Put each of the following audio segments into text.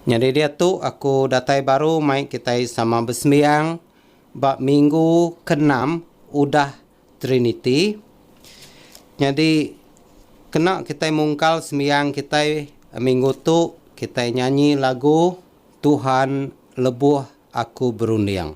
Nyadi diatu aku datai baru mai kitai sama besembiang ba minggu keenam udah Triniti. Nyadi kena kitai mungkal sembiang kitai minggu tu kitai nyanyi lagu Tuhan Lebuh Aku Berunding.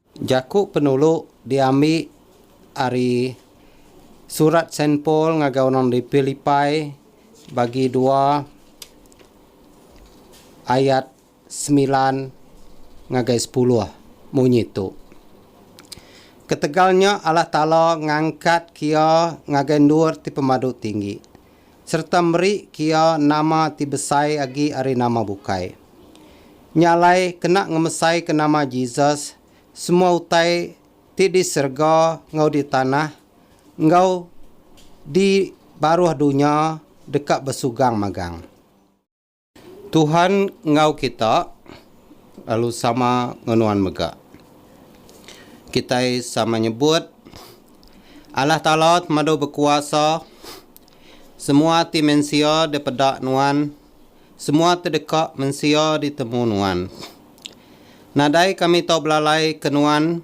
Jaku penulu diambi ari surat Saint Paul ngagai orang di Pilipai bagi dua ayat semilan ngagai sepuluh munyi tu, Ketegal nya Allah Taala ngangkatka Iya ngagai endur ti pemadu tinggi, sereta meri kia nama ti besai agi ari nama bukai. Nya alai kena ngemesaika nama Jesus semua utai ti di serega enggau di tanah enggau di baruh dunya deka besugang magang. Tuhan enggau kita lalu sama enggau nuan mega. Kitai sama nyebut, Allah Taala temadu bekuasa, semua ati mensia dipeda nuan, semua ti deka mensia ditemu nuan. Nadai kami tau belalai ke nuan,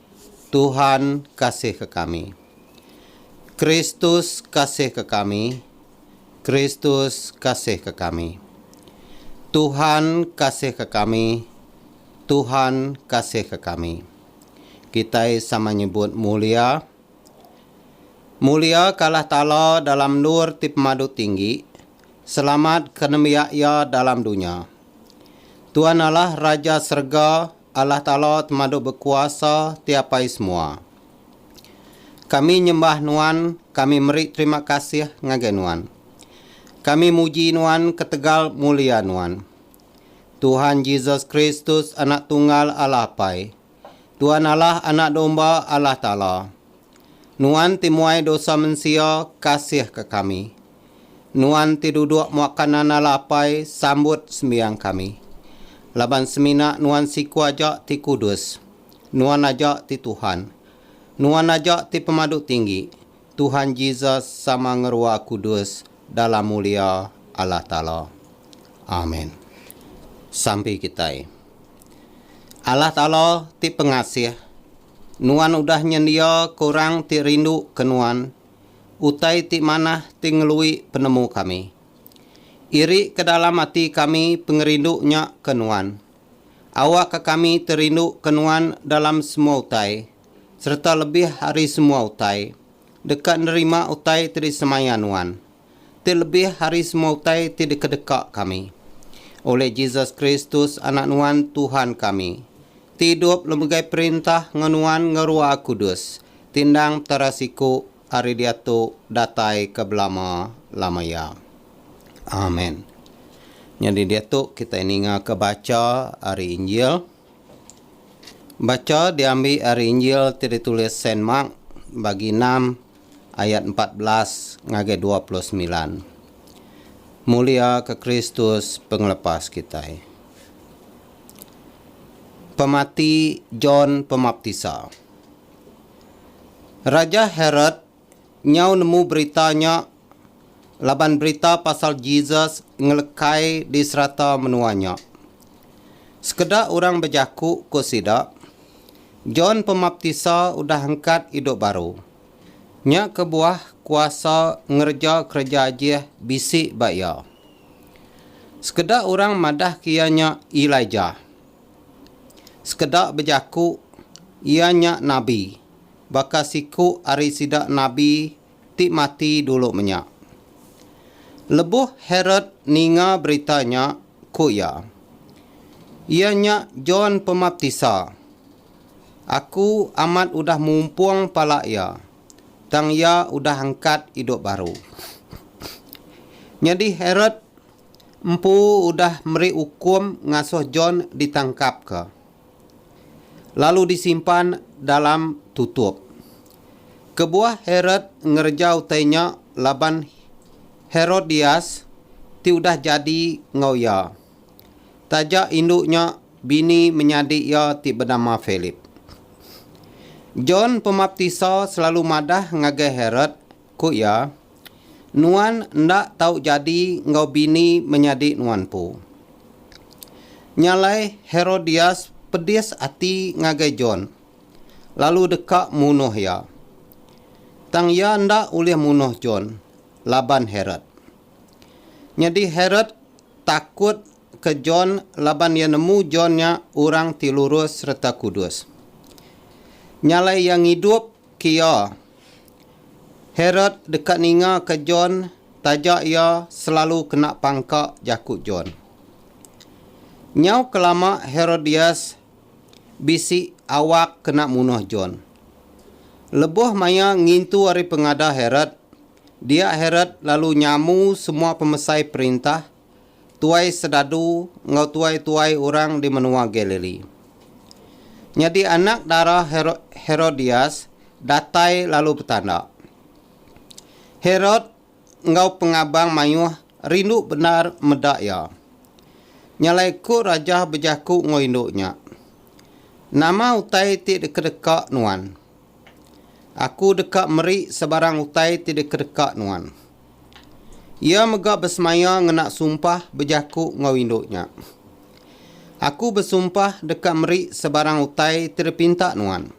Tuhan kasihka kami. Kristus kasihka kami. Kristus kasihka kami. Tuhan kasihka kami. Tuhan kasihka kami. Kitai sama nyebut mulia. Mulia ka Allah Taala dalam endur ti pemadu tinggi, selamat ka nembiak Iya dalam dunya. Tuhan Allah Raja serega. Allah Taala temadu bekuasa ti apai semua. Kami nyembah Nuan, kami meri terima kasih ngagai Nuan. Kami muji Nuan ketegal mulia Nuan. Tuhan Jesus Kristus Anak Tunggal Allah Apai. Tuan Allah Anak Domba Allah Taala. Nuan ti muai dosa mensia, kasihka kami. Nuan ti duduk muaka nandala apai, sambut sembiang kami. Laban semina Nuan siku aja ti kudus. Nuan aja ti Tuhan. Nuan aja ti Pemadu Tinggi, Tuhan Jesus sama ngerua kudus dalam mulia Allah Taala. Amen. Sampi kitai. Allah Taala ti pengasih. Nuan udah nyendia ke orang ti rindu ke Nuan utai ti manah ti ngelui penemu kami. Iri ke dalam ati kami pengerindu nya ke Nuan. Awakka kami terindu ke Nuan dalam semua utai sereta lebih ari semua utai, deka nerima utai ti disemaya Nuan. ti lebih ari semua utai ti dikedeka kami. Oleh Jesus Kristus, Anak Nuan, Tuhan kami, ti idup lemegai perintah enggau Nuan enggau Ruah Kudus, ti endang petara siku ari diatu datai ke belama-lama iya. Amen. Nyadi diatu kitai ningaka bacha ari Injil. Bacha diambi ari Injil ti ditulis Saint Mark, Bagi enam, ayat empat belas ngagai dua puluh semilan. Muliaka Kristus Pengelepas kitai. Pemati John Pemaptisa. Raja Herod nyau nemu berita nya laban berita pasal Jesus ngelekai di serata menua nya. Sekeda orang bejaku ku sida, John Pemaptisa udah angkat idup baru. Nya kebuah kuasa ngereja kereja ajih bisi ba iya. Sekeda orang madahka iya nya Elijah. Sekeda bejaku iya nya nabi baka siku ari sida nabi ti mati dulu menya. Lebuh Herod ninga berita nya, ku iya. Iya nya John Pemaptisa. Aku amat udah mumpung pala iya, tang iya udah angkat idup baru. Nyadi Herod empu udah meri ukum ngasuh John ditangkapka. lalu disimpan dalam tutup. Kebuah Herod ngereja utai nya laban Herodias ti udah jadi enggau iya, taja indu nya bini menyadi iya ti benama Philip. John Pemaptisa selalu madah ngagai Herod Ku iya, Nuan enda tau jadi enggau bini menyadi nuan empu. Nya alai Herodias pedis ati ngagai John, lalu deka munuh iya. Tang iya enda ulih munuh John laban Herod. Nyadi Herod takut ke John laban iya nemu John nya orang ti lurus sereta kudus. Nya alai iya ngidup Kya. Herod deka ningaka John taja iya selalu kena pangka jaku John. Nyau kelama Herodias bisi awak kena munuh John. Lebuh maya ngintu ari pengada Herod, dia Herod lalu nyamu semua pemesai perintah tuai sedadu enggau tuai-tuai orang di menua Galili. Nyadi anak dara Herodias datai lalu betanda. Herod enggau pengabang mayuh rindu bendar meda iya. Nyalai ku raja bejaku enggau indu nya, Nama utai ti dikedeka nuan? Aku deka meri sebarang utai ti dikedeka nuan. Iya mega besemaya ngena sumpah bejaku enggau indu nya. Aku besumpah deka meri sebarang utai ti dipinta nuan.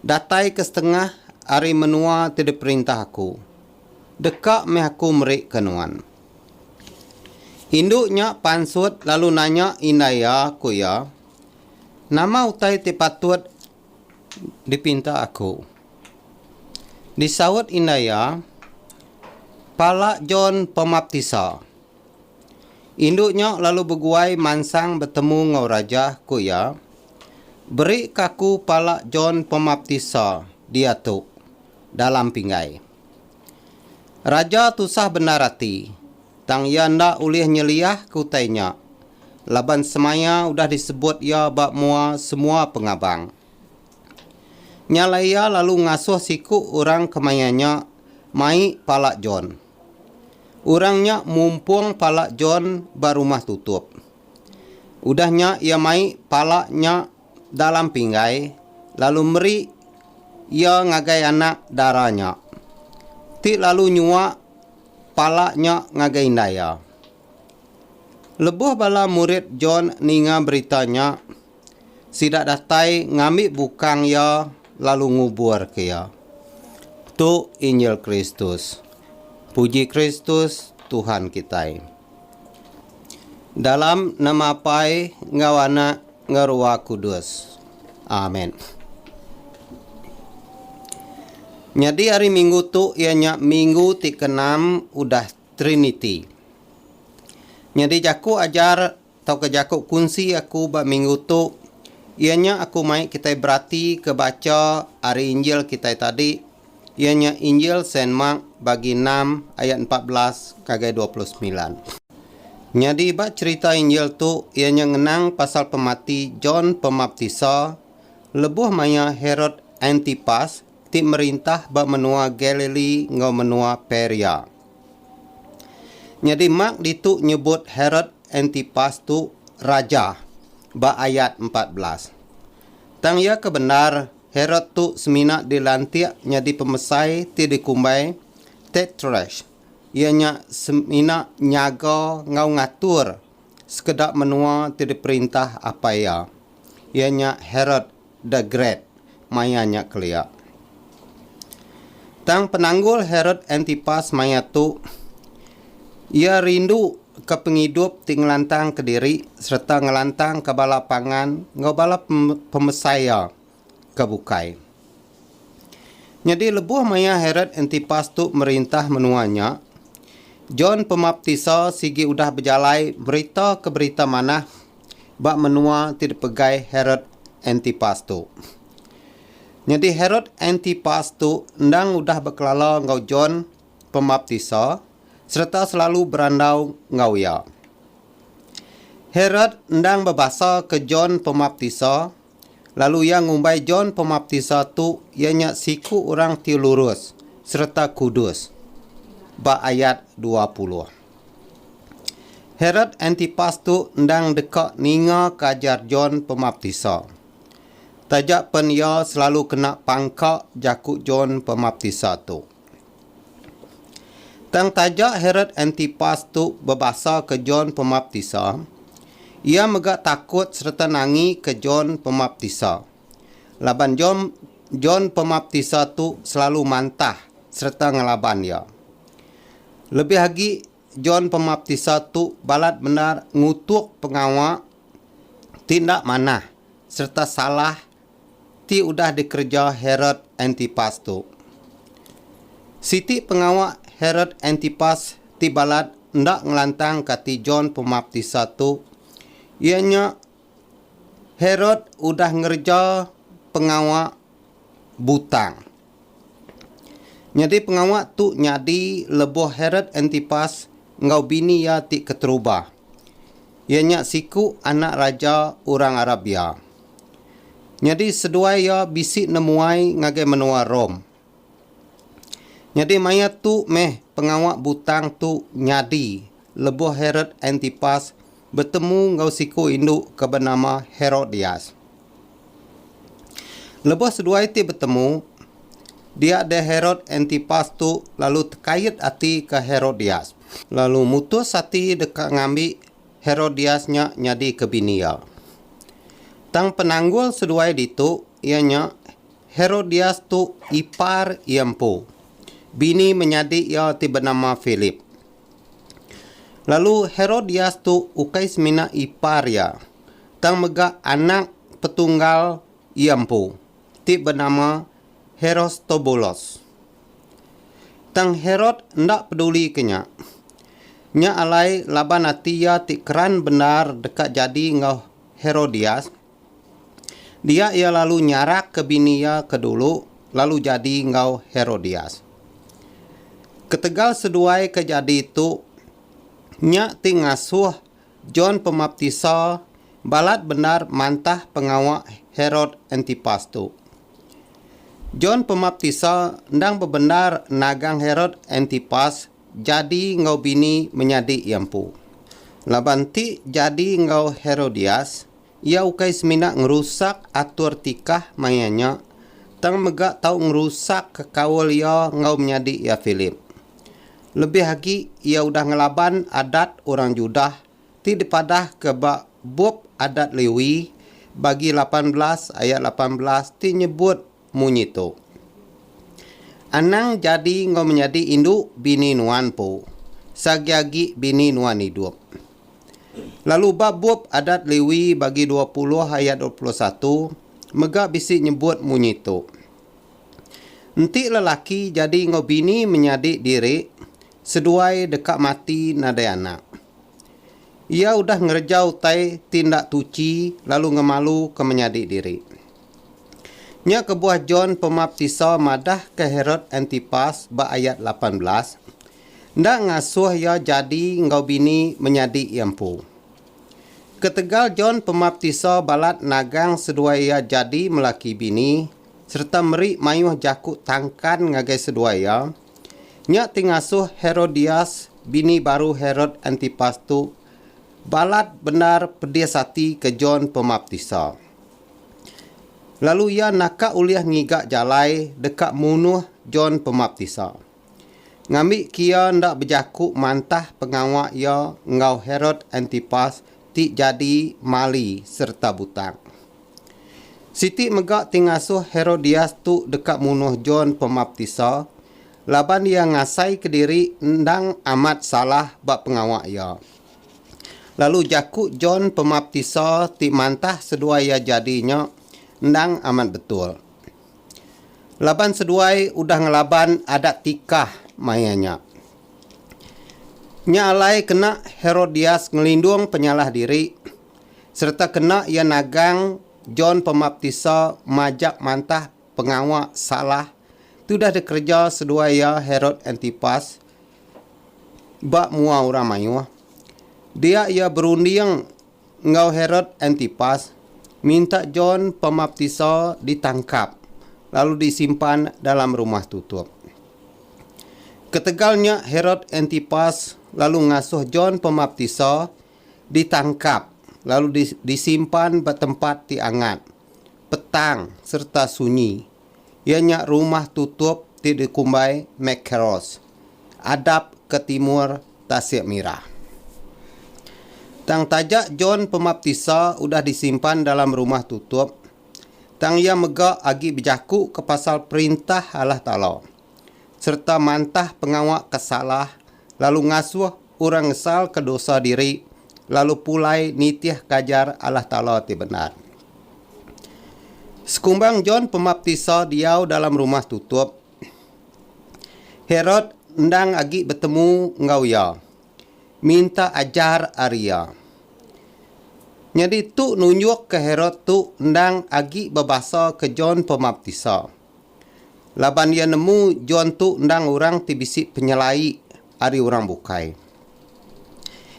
Datai ke setengah ari menua ti diperintah aku, deka meh aku merika nuan. Indu nya pansut lalu nanya indai iya, ku iya, Nama utai ti patut dipinta aku. Disaut indai iya, Pala John Pemaptisa. Indu nya lalu beguai mansang betemu enggau raja, ku iya, Berika aku pala John Pemaptisa diatu dalam pinggai. Raja tusah bendar ati. Tang iya enda ulih nyeliah ke utai nya, laban semaya udah disebut iya ba mua semua pengabang. Nya alai iya lalu ngasuh siku orang ke maya nya mai pala John. Orang nya mumpung pala John ba rumah tutup. Udah nya iya mai pala nya dalam pinggai lalu meri iya ngagai anak dara nya, ti lalu nyuak Pala nya ngagai indai iya. Lebuh bala murid John ninga berita nya, sida datai ngambi bukang iya lalu nguburka iya. Tu injil Kristus. Puji Kristus, Tuhan kitai. Dalam nama Apai enggau Anak enggau Ruah Kudus. Amen. Nyadi hari minggu tu iya nya minggu ti keenam udah Triniti. Nyadi jaku ajar tauka jaku kunsi aku ba minggu tu iya nya aku mai kitai beratika bacha ari Injil kitai tadi iya nya Injil Saint Mark bagi enam ayat empat belas ngagai dua puluh semilan. Nyadi ba cherita Injil tu iya nya ngenang pasal pemati John Pemaptisa lebuh maya Herod Antipas ti merintah ba menua Galilee enggau menua Perea. Nyadi Mark ditu nyebut Herod Antipas tu raja ba ayat empat belas. Tang iya ke bendar Herod tu semina dilantik nyadi pemesai ti dikumbai Tetrarch, iya nya semina nyaga enggau ngatur sekeda menua ti diperintah apai iya, iya nya Herod the Great maya nya kelia. Tang penanggul Herod Antipas maya tu, Iya rindu ka pengidup ti ngelantang ka diri sereta ngelantang ka bala pangan enggau bala pemesai iya ka bukai. Nyadi lebuh maya Herod Antipas tu merintah menua nya, John Pemaptisa sigi udah bejalai berita ka berita manah ba menua ti dipegai Herod Antipas tu. Nyadi Herod Antipas tu endang udah bekelala enggau John pemaptisa sereta selalu berandau enggau iya. Herod endang bebasaka John Pemaptisa, lalu iya ngumbai John Pemaptisa tu iya nya siku orang ti lurus sereta kudus, ba ayat dua puluh. Herod Antipas tu endang deka ningaka ajar John Pemaptisa. Taja pen iya selalu kena pangka jaku John Pemaptisa tu. Tang taja Herod Antipas tu bebasaka John Pemaptisa, iya mega takut sereta nangika John Pemaptisa. Laban John John Pemaptisa tu selalu mantah sereta ngelaban iya. Lebih agi John Pemaptisa tu balat bendar ngutuk pengawa ti enda manah sereta salah ti udah dikereja Herod Antipas tu. Siti pengawa Herod Antipas ti balat enda ngelantang ke ati John Pemaptisa tu iya nya Herod udah ngereja pengawa butang. Nyadi pengawa tu nyadi lebuh Herod Antipas enggau bini iya ti keterubah, iya nya siku anak raja orang Arabia. Nyadi seduai iya bisi nemuai ngagai menua Rome. Nyadi maya tu meh pengawa butang tu nyadi Lebuh Herod Antipas betemu enggau siku indu ke benama Herodias. Lebuh seduai ti betemu, dia deh Herod Antipas tu lalu tekait ati ke Herodias, lalu mutus ati deka ngambi Herodias nya nyadi ke bini iya. Tang penanggul seduai ditu iya nya Herodias tu ipar iya empu, bini menyadi iya ti benama Philip. Lalu Herodias tu ukai semina ipar iya, tang mega anak petunggal iya empu, ti benama Herostobulus. Tang Herod enda pedulika nya. Nya alai laban ati iya ti keran bendar deka jadi enggau Herodias, Dia iya lalu nyarakka bini iya ke dulu lalu jadi enggau Herodias. Ketegal seduai ke jadi tu, nya ti ngasuh John Pemaptisa balat bendar mantah pengawa Herod Antipas tu. John Pemaptisa endang bebendar nagang Herod Antipas Jadi enggau bini menyadi iya empu. Laban ti jadi enggau Herodias, iya ukai semina ngerusak atur tikah maya nya, tang mega tau ngerusakka kaul iya enggau menyadi iya Philip. Lebih agi, iya udah ngelaban adat orang Judah ti dipadahka ba Bup Adat Lewi bagi lapan belas ayat lapan belas ti nyebut Munyi tu. Anang jadi enggau menyadi indu bini nuan empu, seagi-agi bini nuan idup. Lalu ba bup Adat Lewi bagi dua puluh ayat dua puluh satu mega bisi nyebut munyi tu. Enti lelaki jadi enggau bini menyadi diri seduai deka mati nadai anak. Iya udah ngereja utai ti enda tuchi lalu ngemaluka menyadi diri. Nya kebuah John Pemaptisa madahka Herod Antipas ba ayat lapan belas, enda ngasuh iya jadi enggau bini menyadi iya empu. Ketegal John Pemaptisa balat nagang seduai iya jadi melaki bini sereta meri mayuh jaku tangkan ngagai seduai iya, nya ti ngasuh Herodias, bini baru Herod Antipas tu, balat bendar pedis ati ke John Pemaptisa. Lalu iya naka ulih ngiga jalai deka munuh John Pemaptisa. Ngambi ke iya enda bejaku mantah pengawa iya enggau Herod Antipas ti jadi mali sereta butang. Siti mega ti ngasuh Herodias tu deka munuh John Pemaptisa laban iya ngasai kediri endang amat salah ba pengawa iya. Lalu jaku John Pemaptisa ti mantah seduai iya jadi nya endang amat betul. Laban seduai udah ngelaban adat tikah maya nya. Nya alai kena Herodias ngelindung penyalah diri sereta kena iya nagang John Pemaptisa majak mantah Pengawa salah tudah dikereja seduai iya Herod Antipas ba mua orang mayuh. Dia iya berunding enggau Herod Antipas minta John Pemaptisa ditangkap lalu disimpan dalam rumah tutup. Ketegal nya Herod Antipas lalu ngasuh John Pemaptisa ditangkap lalu disimpan ba tempat ti angat, petang sereta sunyi, iya nya rumah tutup ti dikumbai Mekkeros, adap ke timur Tasik Mirah. Tang taja John Pemaptisa udah disimpan dalam rumah tutup, tang iya mega agi bejakuka pasal Perintah Allah Taala sereta mantah pengawa ke salah lalu ngasuh orang ngesalka dosa diri lalu pulai nitihka ajar Allah Taala ti bendar. Sekumbang John Pemaptisa diau dalam rumah tutup, Herod endang agi betemu enggau iya, minta ajar ari iya. Nyadi tu nunjukka Herod tu endang agi bebasaka John Pemaptisa. laban iya nemu John tu endang orang ti bisi penyelai ari orang bukai.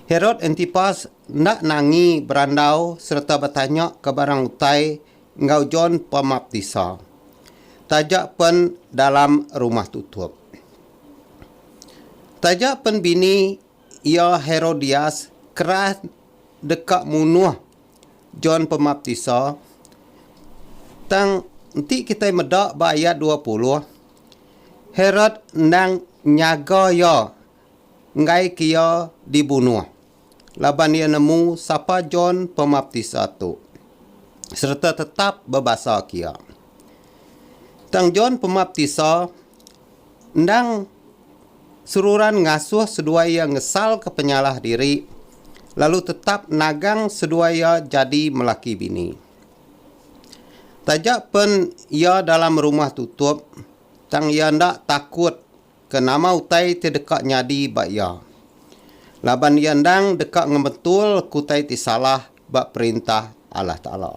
Herod Antipas enda nangi berandau sereta betanya ke barang utai enggau John Pemaptisa, taja pen dalam rumah tutup. Taja pen bini Iya, Herodias, keras deka munuh John Pemaptisa. Tang enti kitai meda ba ayat dua puluh, Herod endang nyaga iya enggaika iya dibunuh laban iya nemu sapa John Pemaptisa tu sereta tetap bebasaka iya. Tang John Pemaptisa. Endang seruran ngasuh seduai iya ngesalka penyalah diri lalu tetap nagang seduai iya jadi melaki bini. Taja pen iya dalam rumah tutup, tang iya enda takut ke nama utai ti deka nyadi ba iya. Laban iya endang deka ngemetul ke utai ti salah ba Perintah Allah Taala.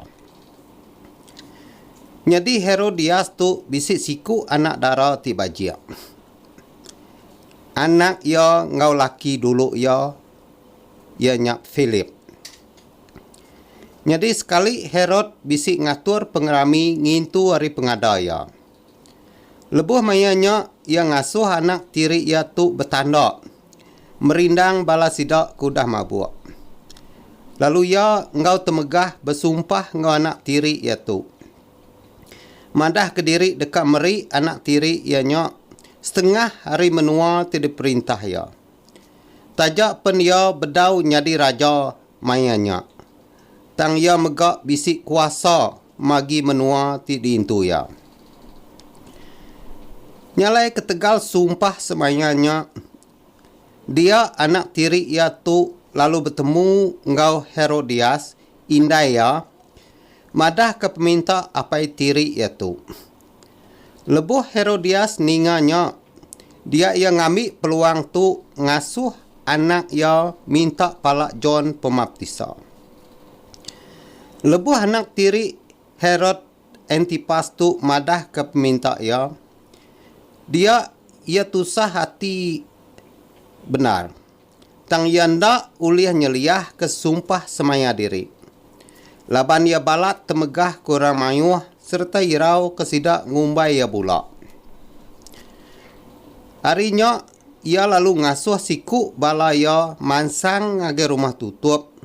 Nyadi Herodias tu bisi siku anak dara ti bajik. Anak iya enggau laki dulu iya, iya nya Philip. Nyadi sekali Herod bisi ngatur pengerami ngintu ari pengada iya. Lebuh maya nya, iya ngasuh anak tiri iya tu betanda merindang bala sida ke udah mabuk. Lalu iya enggau temegah besumpah enggau anak tiri iya tu. Madah kediri deka meri anak tiri iya nya setengah ari menua ti diperintah iya. Taja pen iya bedau nyadi raja Maya nya, tang iya mega bisi kuasa magi menua ti diintu iya. Nyalai ketegal sumpah semaya nya, dia anak tiri iya tu lalu betemu enggau Herodias, indai iya, madahka peminta apai tiri iya tu. Lebuh Herodias ninga nya, dia iya ngambi peluang tu ngasuh anak iya minta pala John Pemaptisa. Lebuh anak tiri Herod Antipas tu madahka peminta iya, dia iya tusah ati bendar. tang iya enda ulih nyeliahka sumpah semaya diri, laban iya balat temegah ke orang mayuh sereta irauka sida ngumbai iya bula. Ari nya, iya lalu ngasuh siku bala iya mansang ngagai rumah tutup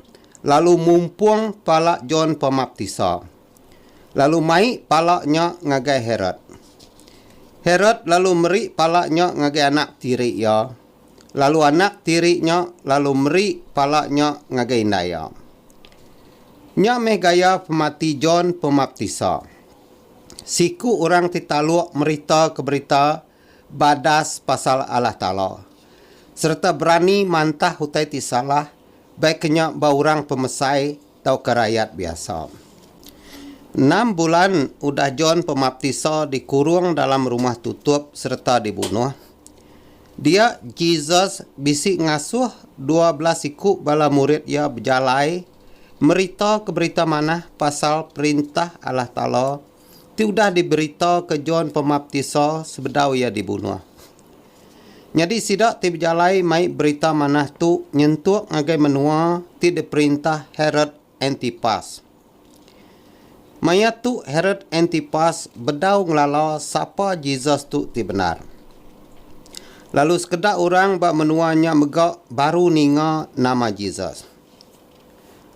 lalu mumpung pala John Pemaptisa, lalu mai pala nya ngagai Herod. Herod lalu meri pala nya ngagai anak tiri iya, lalu anak tiri nya lalu meri pala nya ngagai indai iya. Nya meh gaya pemati John Pemaptisa. Siku orang ti taluk meritaka berita badas pasal Allah Taala sereta berani mantah utai ti salah baik ke nya ba orang pemesai tauka rayat biasa. Enam bulan udah John Pemaptisa dikurung dalam rumah tutup sereta dibunuh, dia Jesus bisi ngasuh dua bela siku bala murid iya bejalai meritaka Berita Manah pasal Perintah Allah Taala ti udah diberitaka John Pemaptisa sebedau iya dibunuh. Nyadi sida ti bejalai mai berita manah tu nyentuk ngagai menua ti diperintah Herod Antipas. Maya tu Herod Antipas bedau ngelala sapa Jesus tu ti bendar. Lalu sekeda orang ba menua nya mega baru ninga nama Jesus.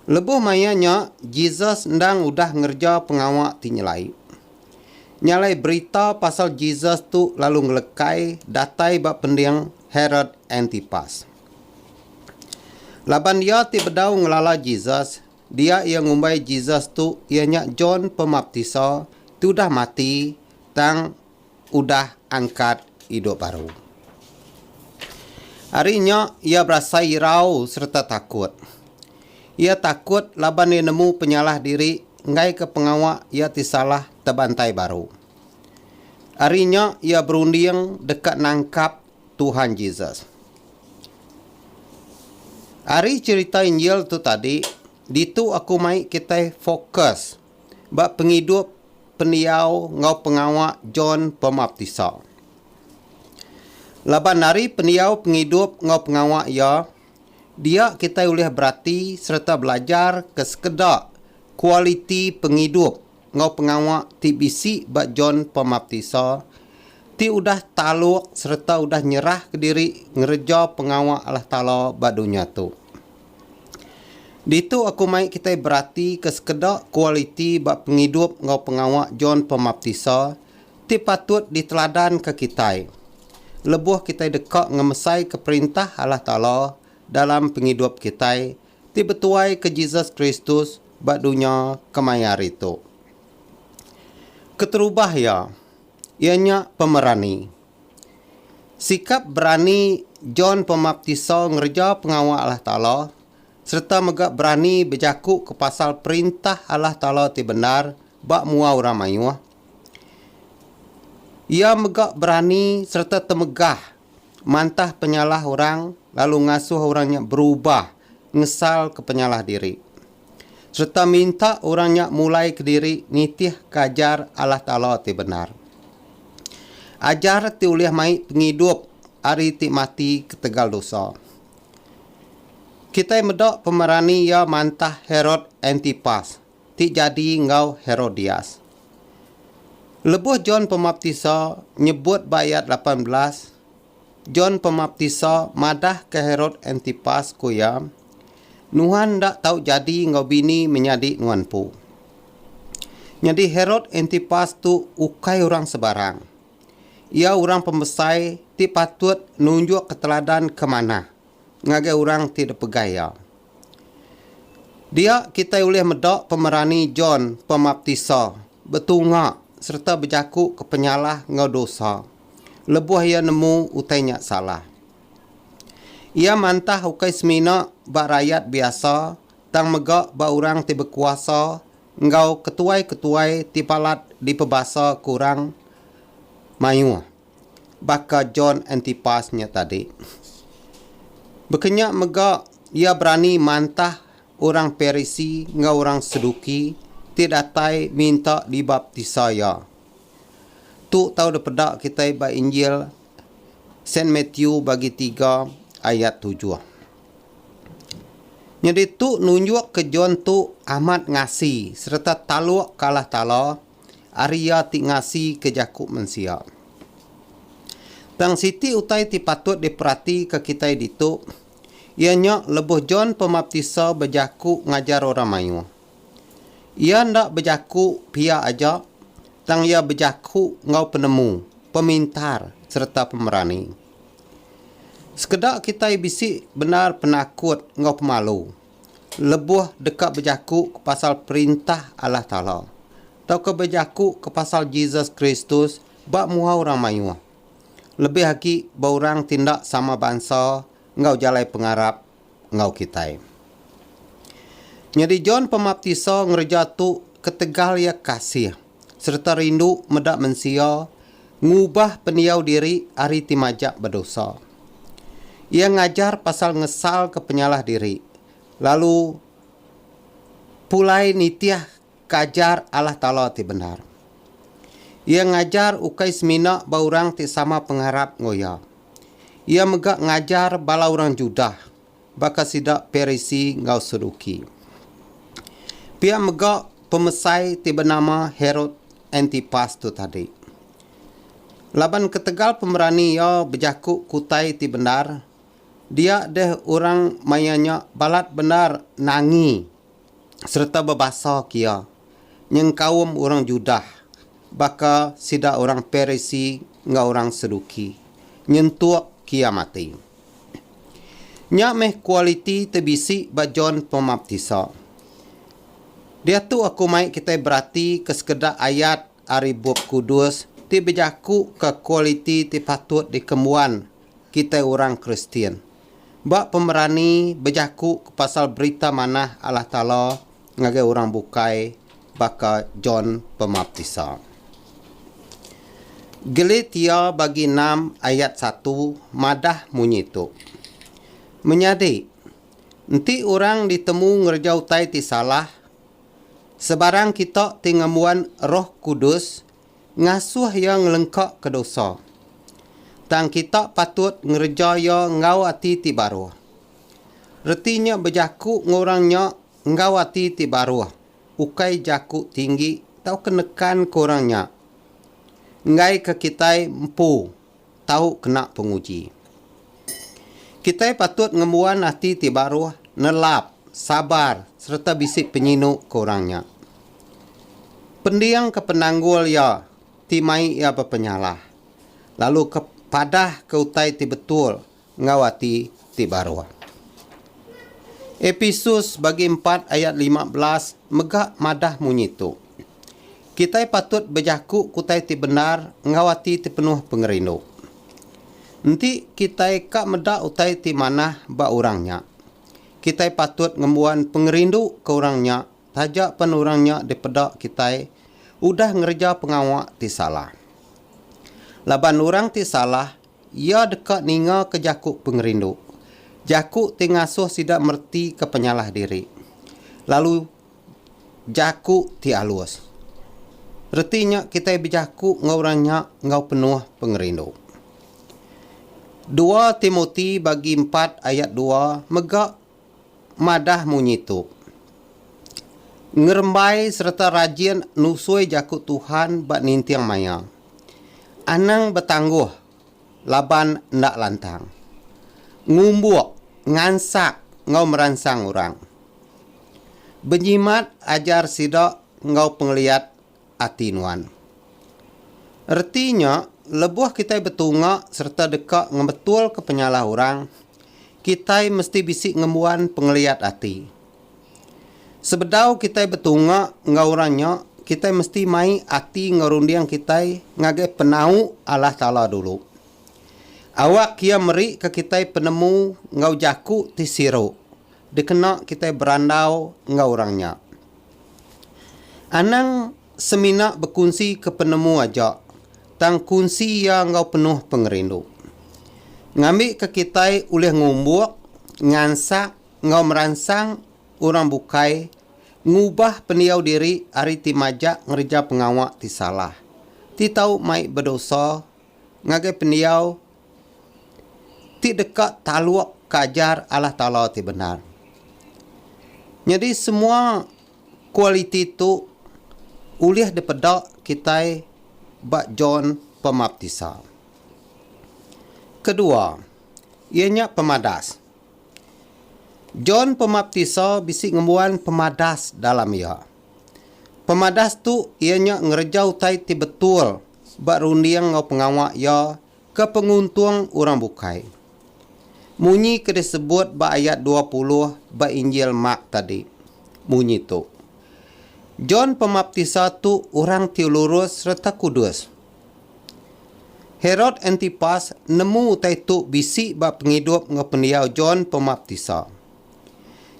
Lebuh maya nya Jesus endang udah ngereja pengawa ti nyelai. Nya alai berita pasal Jesus tu lalu ngelekai datai ba pending Herod Antipas. Laban iya ti bedau ngelala Jesus, dia iya ngumbai Jesus tu iya nya John Pemaptisa ti udah mati tang udah angkat idup baru. Ari nya iya berasai irau sereta takut. Iya takut laban iya nemu penyalah diri enggaika pengawa iya ti salah tebantai baru. Ari nya iya berunding deka nangkap Tuhan Jesus. Ari cherita Injil tu tadi, ditu aku mai kitai fokus ba pengidup, pendiau enggau pengawa John Pemaptisa. Laban ari pendiau pengidup enggau pengawa iya, Dia kitai ulih berati sereta belajar ke sekeda kualiti pengidup enggau pengawa ti bisi ba John Pemaptisa ti udah taluk sereta udah nyerahka diri ngereja pengawa Allah Taala ba dunya tu. Ditu aku mai kitai berati ke sekeda kualiti ba pengidup enggau pengawa John Pemaptisa ti patut diteladanka kitai lebuh kitai deka ngemesaika Perintah Allah Taala dalam pengidup kitai ti betuaika Jesus Kristus ba dunya kemaya hari tu. Keterubah iya, iya nya pemerani. Sikap berani John Pemaptisa ngereja pengawa Allah Taala sereta mega berani bejakuka pasal Perintah Allah Taala ti bendar ba mua orang mayuh, Iya mega berani sereta temegah mantah penyalah orang lalu ngasuh orang nya berubah ngesalka penyalah diri. Sereta minta orang nya mulai kediri nitihka ajar Allah Taala ti bendar. Ajar ti ulih mai pengidup ari ti mati ketegal dosa. Kitai meda pemerani iya mantah Herod Antipas. ti jadi enggau Herodias. Lebuh John Pemaptisa nyebut ba ayat lapan belas, John Pemaptisa madahka Herod Antipas ku iya, Nuhan enda tau jadi enggau bini menyadi nuan empu. Nyadi Herod Antipas tu ukai orang sebarang. Iya orang pembesai ti patut nunjukka teladan ke manah ngagai orang ti dipegai iya. Dia kitai ulih meda pemerani John Pemaptisa betunga sereta bejaku ke penyalah enggau dosa lebuh iya nemu utai nya salah. Iya mantah ukai semina ba rayat biasa tang mega ba orang ti bekuasa enggau ketuai-ketuai ti balat dipebasa ke orang mayuh. baka John Antipas nya tadi. Bekenya mega iya berani mantah orang Parisi enggau orang Seduki ti datai minta dibaptisa iya. Tu tau dipeda kitai ba Injil Saint Matthew bagi tiga ayat tujuh. Nyadi tu nunjukka John tu amat ngasi sereta taluk ke Allah Taala ari Iya ti ngasika jaku mensia. Tang siti utai ti patut diperatika kitai ditu, iya nya lebuh John Pemaptisa bejaku ngajar orang mayuh, iya enda bejaku pia aja tang iya bejaku enggau penemu, pemintar sereta pemerani. Sekeda kitai bisi bendar penakut enggau pemalu. lebuh deka bejaku ke pasal Perintah Allah Taala tauka bejaku ke pasal Jesus Kristus ba mua orang mayuh, lebih agi ba orang ti enda sama bansa enggau jalai pengarap enggau kitai. Nyadi John Pemaptisa ngereja tu ketegal iya kasih. sereta rindu meda mensia ngubah pendiau diri ari ti majak bedosa. Iya ngajar pasal ngesalka penyalah diri lalu pulai nitihka ajar Allah Taala ti bendar. Iya ngajar ukai semina ba orang ti sama pengarap enggau iya. Iya mega ngajar bala orang Judah. Baka sida Parisi enggau Saduki. Pia mega pemesai ti benama Herod Antipas tu tadi. Laban ketegal pemerani iya bejaku ke utai ti bendar, dia deh orang maya nya balat bendar nangi sereta bebasa kia nyengkaum orang Judah baka sida orang Parisi enggau orang Saduki, nyentuk kia mati. Nya meh kualiti ti bisi ba John Pemaptisa. Diatu aku mai kitai beratika sekeda ayat ari Bup Kudus ti bejakuka kualiti ti patut dikembuan kitai orang Kristian. Ba pemerani bejaku ke pasal berita manah Allah Taala ngagai orang bukai baka John Pemaptisa. Geletia bagi enam ayat satu madah munyi tu. Menyadi, enti orang ditemu ngereja utai ti salah, sebarang kita ti ngembuan Roh Kudus Ngasuh iya ngelengkaka dosa. Tang kita patut ngereja iya enggau ati ti baruh. Reti nya bejaku enggau orang nya enggau ati ti baruh, ukai jaku tinggi tauka nekanka orang nya. Enggaika kitai empu tau kena penguji. Kitai patut ngembuan ati ti baruh, nelap, sabar sereta bisi penyinu ke orang nya. Pendingka penanggul iya ti mai iya bepenyalah, lalu ke padahka utai ti betul enggau ati ti baruh. Episus bagi empat ayat lima belas mega madah munyi tu. Kitai patut bejaku kutai ti bendar enggau ati ti penuh pengerindu. Enti kitai ka meda utai ti manah ba orang nya, kitai patut ngembuan pengerindu ke orang nya taja pen orang nya dipeda kitai udah ngereja pengawa ti salah. Laban orang ti salah Iya deka ningaka jaku pengerindu, jaku ti ngasuh sida meretika penyalah diri, lalu jaku ti alus. Reti nya kitai bejaku enggau orang nya enggau penuh pengerindu. Dua Timoti bagi empat ayat dua mega madah munyi tu, Ngerembai sereta rajin nusui Jaku Tuhan ba ninting maya. Anang betangguh laban enda lantang. Ngumbuk, ngansak enggau meransang orang. Benyimat ajar sida enggau pengeliat ati nuan. Reti nya, lebuh kitai betunga sereta deka ngebetulka penyalah orang, kitai mesti bisi ngembuan pengeliat ati. Sebedau kitai betunga enggau orang nya, kitai mesti mai ati enggau runding kitai ngagai penau Allah Taala dulu. Awak Iya merika kitai penemu enggau jaku ti siru dikena kitai berandau enggau orang nya. Anang semina bekunsi ke penemu aja, tang kunsi iya enggau penuh pengerindu. Ngambika kitai ulih ngumbuk, ngansak enggau meransang orang bukai ngubah pendiau diri ari ti majak ngereja pengawa ti salah, ti tau mai bedosa ngagai pendiau ti deka taluk ke ajar Allah Taala ti bendar. Nyadi semua kualiti tu ulih dipeda kitai ba John Pemaptisa. Kedua, iya nya pemadas. John Pemaptisa bisi ngembuan pemadas dalam iya. Pemadas tu iya nya ngereja utai ti betul ba runding enggau pengawa iya ke penguntung orang bukai. Munyi ke disebut ba ayat dua puluh ba Injil Mark tadi munyi tu, John Pemaptisa tu orang ti lurus sereta kudus. Herod Antipas nemu utai tu bisi ba pengidup enggau pendiau John Pemaptisa.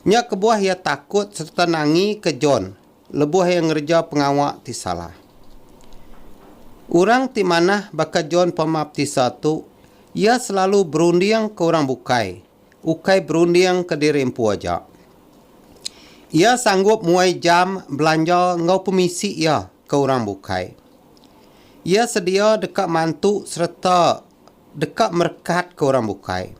Nya kebuah iya takut sereta nangika John lebuh iya ngereja pengawa ti salah. Orang ti manah baka John Pemaptisa tu, iya selalu berundingka orang bukai, ukai berundingka diri empu aja. Iya sanggup muai jam belanja enggau pemisi iya ke orang bukai. Iya sedia deka mantu sereta. Deka merekatka orang bukai.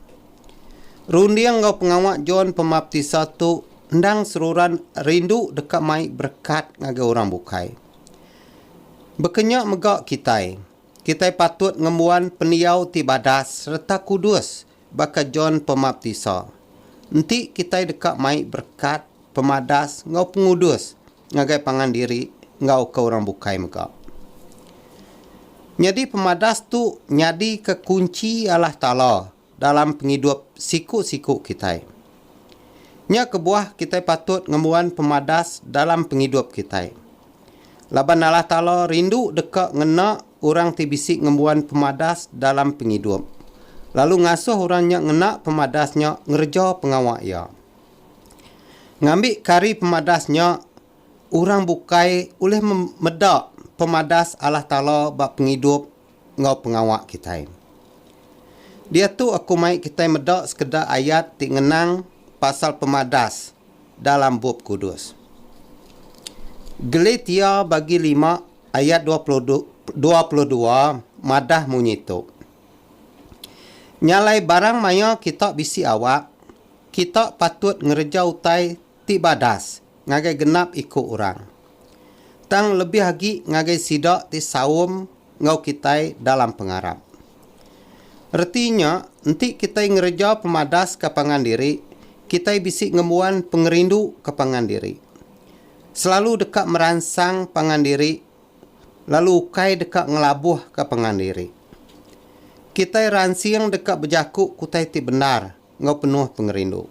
Runding enggau pengawa John Pemaptisa tu endang seruran rindu deka mai berekat ngagai orang bukai. Baka nya mega kitai, kitai patut ngembuan pendiau ti badas sereta kudus baka John Pemaptisa. Enti kitai deka mai berekat, pemadas enggau pengudus, ngagai pangan diri enggau ke orang bukai mega. Nyadi pemadas tu nyadika kunchi Allah Taala dalam pengidup siku-siku kitai. Nya kebuah kitai patut ngembuan pemadas dalam pengidup kitai. Laban Allah Taala rindu deka ngena orang ti bisi ngembuan pemadas dalam pengidup, lalu ngasuh orang nya ngena pemadas nya ngereja pengawa Iya. Ngambi kari pemadas nya, orang bukai ulih meda pemadas Allah Taala ba pengidup enggau pengawa kitai. Diatu aku mai kitai meda sekeda ayat ti ngenang pasal pemadas dalam Bup Kudus. Galatia bagi lima ayat dua puluh dua madah munyi tu, Nyalai barang maya kita bisi awak, Kita patut ngereja utai ti badas ngagai genap iku orang, tang lebih agi ngagai sida ti saum enggau kitai dalam pengarap. Reti nya, enti kitai ngereja pemadaska pangan diri, kitai bisi ngembuan pengerinduka pangan diri. Selalu deka meransang pangan diri lalu ukai deka ngelabuhka pangan diri. Kitai ransing deka bejaku ke utai ti bendar enggau penuh pengerindu.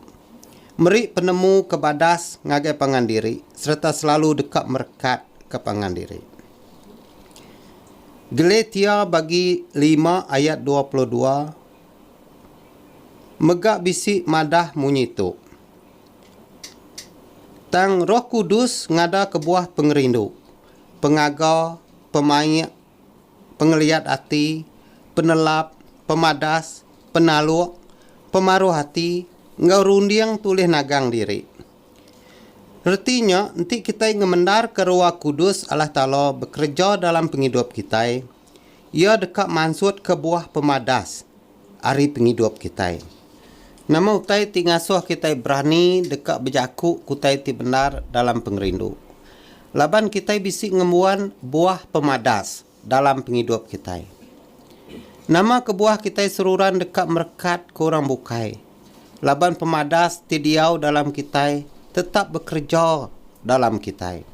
Meri penemu ke badas ngagai pangan diri sereta selalu deka merekat ke pangan diri. Galatia bagi lima ayat dua puluh dua mega bisi madah munyi tu, Tang Roh Kudus ngada kebuah pengerindu, pengaga, pemaik, pengeliat ati, penelap, pemadas, penaluk, pemaruh ati enggau runding tu ulih nagang diri. Reti nya, enti kitai ngemendarka Roh Kudus Allah Taala bekereja dalam pengidup kitai, Iya deka mansutka buah pemadas. ari pengidup kitai. Nama utai ti ngasuh kitai berani deka bejaku ke utai ti bendar dalam pengerindu? Laban kitai bisi ngembuan buah pemadas dalam pengidup kitai. Nama kebuah kitai seruran deka merekat ke orang bukai? Laban pemadas ti diau dalam kitai tetap bekereja dalam kitai.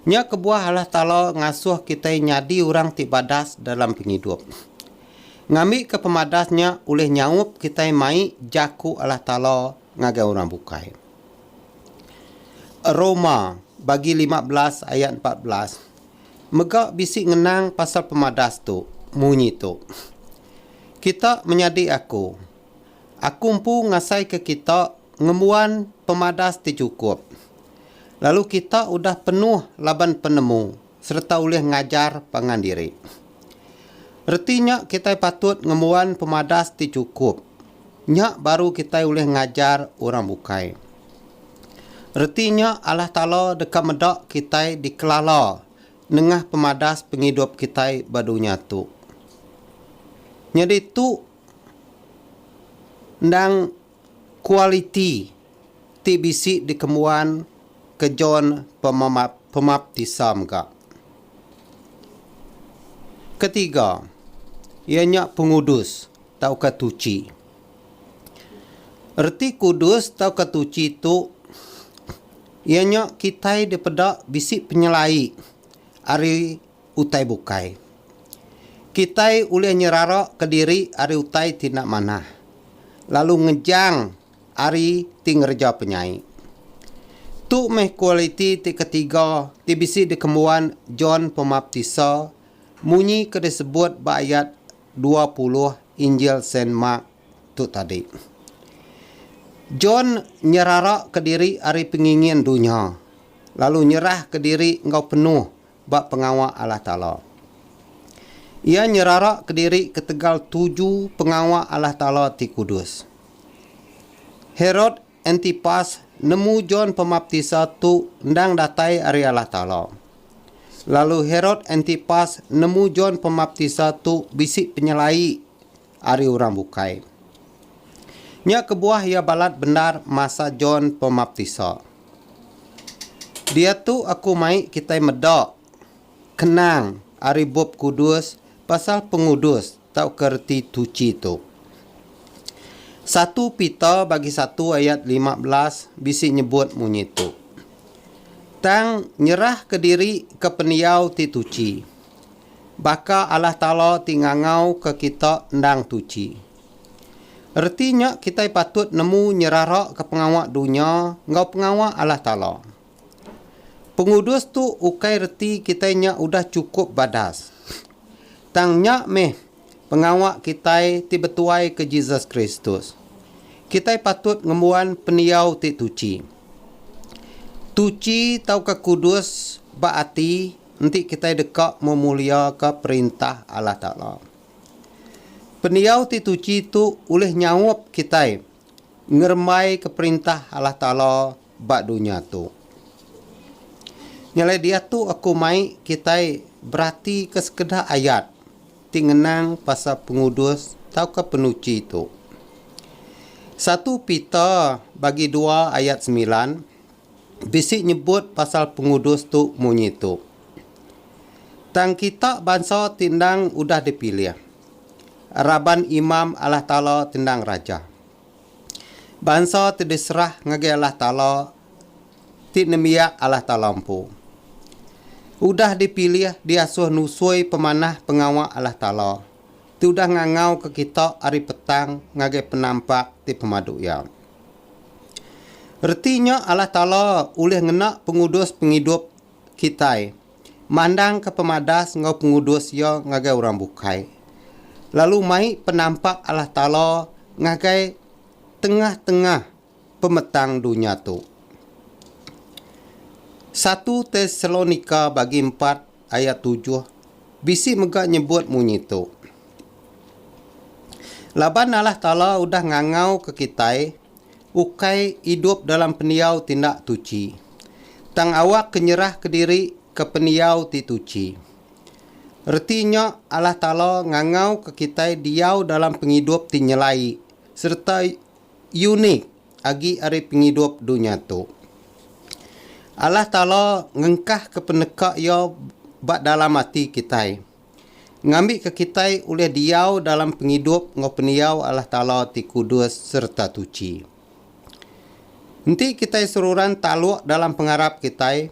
Nya kebuah Allah Taala ngasuh kitai nyadi orang ti badas dalam pengidup. Ngambika pemadas nya ulih nyaup kitai mai jaku Allah Taala ngagai orang bukai. Roma bagi lima belas ayat empat belas mega bisi ngenang pasal pemadas tu munyi tu, Kita menyadi aku. Aku empu ngasaika kita ngembuan pemadas ti chukup, lalu kita udah penuh laban penemu. sereta ulih ngajar pangan diri. Reti nya kitai patut ngembuan pemadas ti chukup. Nya baru kitai ulih ngajar orang bukai. Reti nya Allah Taala deka meda kitai dikelala nengah pemadas pengidup kitai ba dunya tu. Nyadi tu endang Kualiti ti bisi dikembuan ke John Pemaptisa mega. Ketiga, iya nya pengudus tauka tuchi. Reti kudus tauka tuchi tu iya nya kitai dipeda bisi penyelai ari utai bukai. Kitai ulih nyeraraka diri ari utai ti enda manah, lalu ngejang ari ti ngereja penyai. Tu meh kualiti ti ketiga ti bisi dikembuan John Pemaptisa munyi ke disebut ba ayat dua puluh Injil Saint Mark tu tadi. John nyeraraka diri ari pengingin dunya, lalu nyerahka diri enggau penuh ba pengawa Allah Taala. Iya nyerara kediri ketegal tuju pengawa Allah Taala ti kudus. Herod Antipas nemu John Pemaptisa tu endang datai ari Allah Taala. Lalu Herod Antipas nemu John Pemaptisa tu bisi penyelai. ari orang bukai. Nya kebuah iya balat bendar masa John Pemaptisa. Diatu aku mai kitai meda kenang ari Bup Kudus pasal pengudus tauka reti tuchi tu. Satu Peter bagi satu ayat lima belas bisi nyebut munyi tu. Tang nyerahka diri ke pendiau ti tuchi. Baka Allah Taala ti ngangauka kita endang tuchi. Reti nya kitai patut nemu nyeraraka pengawa dunya enggau pengawa Allah Taala. Pengudus tu ukai reti kitai nya udah chukup badas. Tang nya meh pengawa kitai ti betuaika Jesus Kristus. Kitai patut ngembuan pendiau ti tuchi. Tuchi tauka kudus ba ati. Enti kitai deka memuliaka Perintah Allah Taala, pendiau ti tuchi tu ulih nyaup kitai ngerembaika Perintah Allah Taala ba dunya tu. Nyalai diatu aku mai kitai beratika sekeda ayat ti ngenang pasal pengudus tauka penuchi tu. Satu Peter bagi dua ayat semilan bisi nyebut pasal pengudus tu munyi tu, Tang kita bansa ti endang udah dipilih, raban imam Allah Taala ti endang raja. Bansa ti diserah ngagai Allah Taala ti nembiak Allah Taala empu. Udah dipilih diasuh nusui pemanah pengawa Allah Taala. ti udah ngangauka kita ari petang ngagai penampak ti pemadu iya. Reti nya Allah Taala ulih ngena pengudus pengidup kitai mandangka pemadas enggau pengudus Iya ngagai orang bukai, lalu mai penampak Allah Taala ngagai tengah-tengah pemetang dunya tu. Satu Tesalonika bagi empat ayat tujuh bisi mega nyebut munyi tu. Laban Allah Taala udah ngangauka kitai ukai idup dalam pendiau ti enda tuchi, tang awakka nyerahka diri ke pendiau ti tuchi. Reti nya Allah Taala ngangauka kitai diau dalam pengidup ti nyelai sereta unik agi ari pengidup dunya tu. Allah Taala ngengkahka peneka Iya ba dalam ati kitai, ngambika kitai ulih diau dalam pengidup enggau pendiau Allah Taala ti kudus sereta tuchi. Enti kitai seruran taluk dalam pengarap kitai,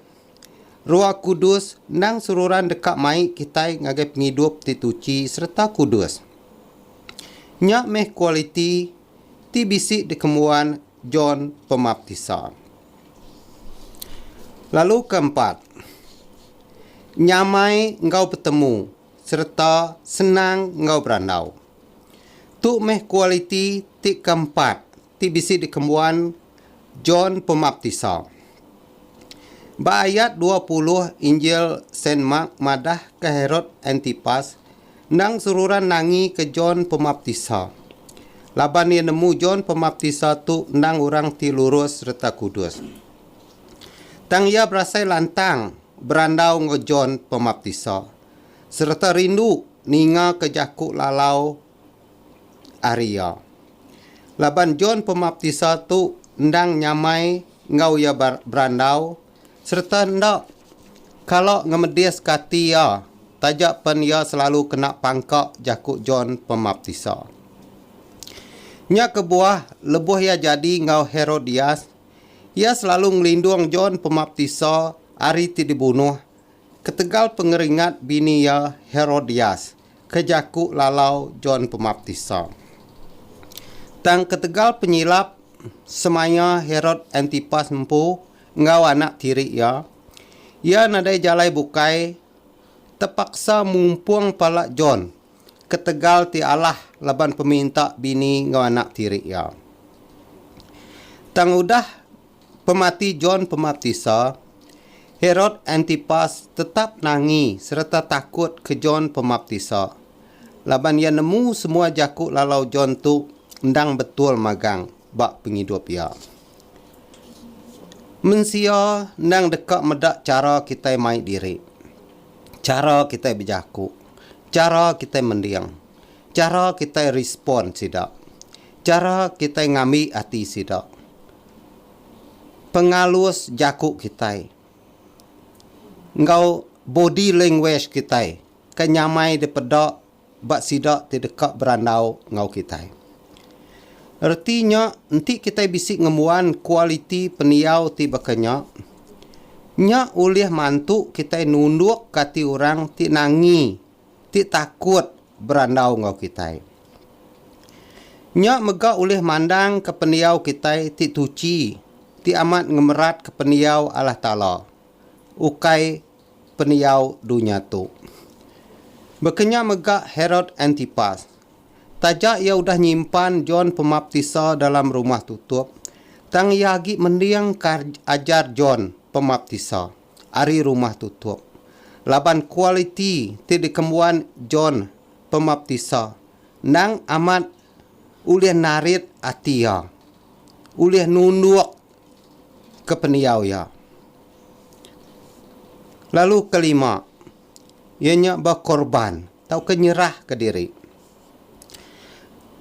Roh Kudus endang seruran deka mai kitai ngagai pengidup ti tuchi sereta kudus. Nya meh kualiti ti bisi dikembuan John Pemaptisa. Lalu ke empat, nyamai enggau betemu sereta senang enggau berandau. Tu meh kualiti ti keempat ti bisi dikembuan John Pemaptisa. Ba ayat dua puluh Injil Saint Mark madah ke Herod Antipas endang seruran nangi ke John Pemaptisa. Laban iya nemu John Pemaptisa tu endang orang ti lurus sereta kudus. Tang iya berasai lantang berandau enggau John Pemaptisa sereta rindu ninga ke jaku lalau ari iya. Laban John Pemaptisa tu endang nyamai enggau iya berandau sereta enda kala ngemediska ati iya taja pen iya selalu kena pangka jaku John Pemaptisa. Nya kebuah lebuh iya jadi enggau Herodias, iya selalu ngelindung John Pemaptisa ari ti dibunuh ketegal pengeringat bini iya Herodias. ke jaku lalau John Pemaptisa. Tang ketegal penyilap semaya Herod Antipas empu enggau anak tiri iya, iya nadai jalai bukai tepaksa mumpung pala John ketegal ti alah laban peminta bini enggau anak tiri iya. Tang udah Pemati John Pemaptisa, Herod Antipas tetap nangi sereta takut ke John Pemaptisa laban iya nemu semua jaku lalau John tu endang betul magang ba pengidup iya. Mensia endang deka meda chara kitai mai diri, chara kitai bejaku, chara kitai mending, chara kitai respon sida, chara kitai ngambi ati sida. pengalus jaku kitai enggau body language kitai ke nyamai dipeda ba sida ti deka berandau enggau kitai. Reti nya enti kitai bisi ngembuan kualiti pendiau ti baka nya, nya ulih mantu kitai nundukka ati orang ti nangi ti takut berandau enggau kitai. Nya mega ulih mandangka pendiau kitai ti tuchi, ti amat ngemeratka pendiau Allah Taala, ukai pendiau dunya tu. Baka nya mega Herod Antipas. Taja iya udah nyimpan John Pemaptisa dalam rumah tutup, tang iya agi mending ka ajar John Pemaptisa. ari rumah tutup, laban kualiti ti dikembuan John Pemaptisa endang amat ulih narit ati iya, ulih nunduk ke pendiau iya. Lalu kelima, iya nya bekorban tauka nyerahka diri.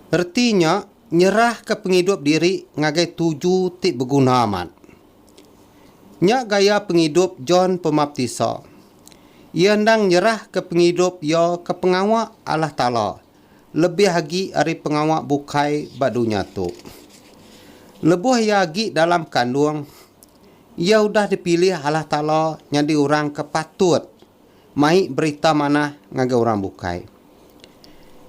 Reti nya nyerahka pengidup diri ngagai tuju ti beguna amat. Nya gaya pengidup John Pemaptisa. Iya endang nyerahka pengidup iya ke pengawa Allah Taala lebih agi ari pengawa bukai ba dunya tu. Lebuh iya agi dalam bekandung, iya udah dipilih Allah Taala nyadi orang ke patut mai berita manah ngagai orang bukai.